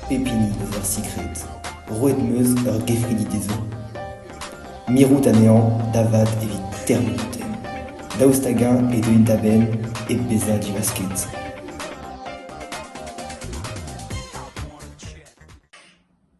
Pep hini eus ar sikred, roet 'm eus ur gevridi dezhañ, mirout anezhañ da vat evit termenañ tem, daoust hag-eñ e deuint da-benn hep bezañ diwasket.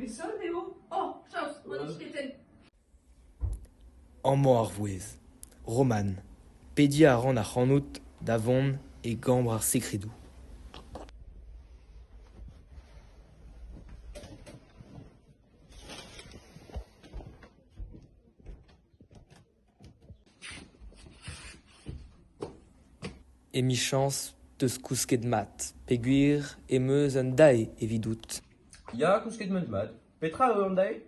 Met sot eo oh chaos ma n'eus ket tenn. Amañ ar vouezh, Roman, pediñ a ran ac'hanout da vont e gambr ar sekredoù. Emichañs 'teus kousket mat peogwir em eus un dae evidout. Ya, kousket 'meus mat. Petra eo an dae ?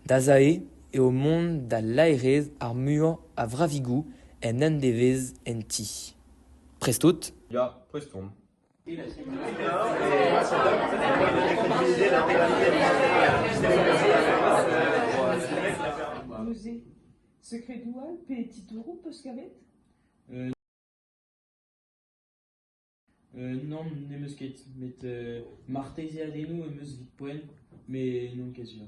Da zae eo mont da laerezh ar muiañ a vravigoù en un devezh en ti. Prest out ? Ya, prest on. Neuze, sekredoù all pe titouroù 'peus kavet ? Nann, n'em eus ket, met martezeadennoù em eus 'vit poent, met n'on ket sur.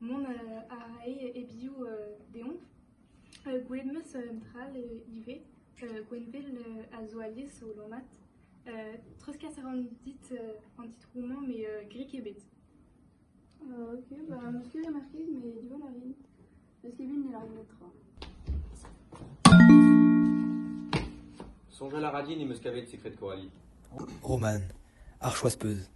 Mont a rae e-bioù deomp. Gwelet 'm eus un dra all ivez. Gwenvel a zo alies o lammat. Treuzkas a ran dit an titroù-mañ met grik ebet. Ok, bah, 'meus ket remarket, mais diwall a rin. N'eus ket bet ne lârin netra. Soñjal a ra din em eus kavet sekred Coralie. Roman, ar choaz peuz.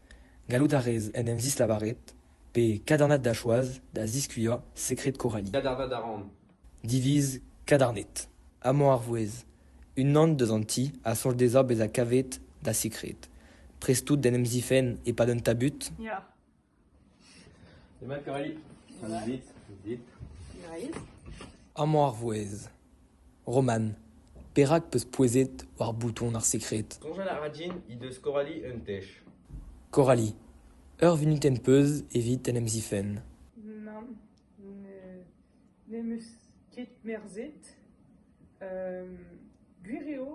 Gallout a rez en em zislavaret, pe kadornad da choaz da ziskuilhañ sekred Coralie. Diviz kadarnet. Amañ ar vouezh. Unan deus an ti a soñj dezhañ bezañ kavet da sekred. Prest out d'en em zifenn e-pad un tabut? Ya. Demat Coralie? Dit, dit. Amañ ar vouezh. Roman, perak 'peus pouezet war bouton ar sekred ? Soñjal a ra din he deus Coralie un tech. Coralie, ur vunutenn 'peus evit en em zifenn ? Nann, n'em eus ket merzet. gwir eo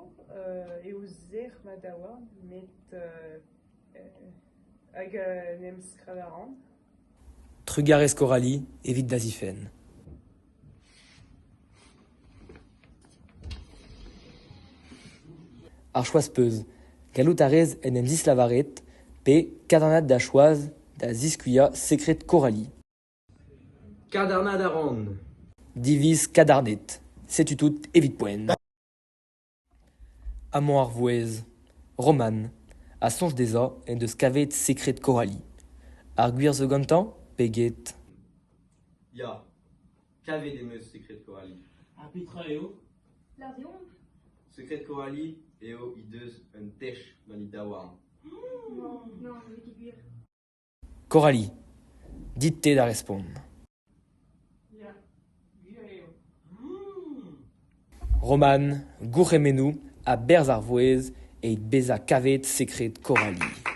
eo sec'h ma daouarn met hag n'em skrabañ a ran. Trugarez Coralie evit da zifenn. Ar choaz-peuz, gallout a rez en em zislavaret pe kadennad da choaz da ziskuilhañ sekred Coralie. Kadennad a ran. Diviz kadarnet. Setu tout evit poent. Amañ ar vouezh Roman a soñj dezhañ en deus kavet sekred Coralie. Ar gwir zo gantañ pe get ? Ya, kavet em eus sekred Coralie. Ha petra eo ? Lariomp. Sekred Coralie eo he deus un tech gant he daouarn. Non, n'eo ket gwir. Coralie, dit-te da respont. Roman, gourc'hemennoù a-berzh ar vouezh evit bezañ kavet sekred Coralie.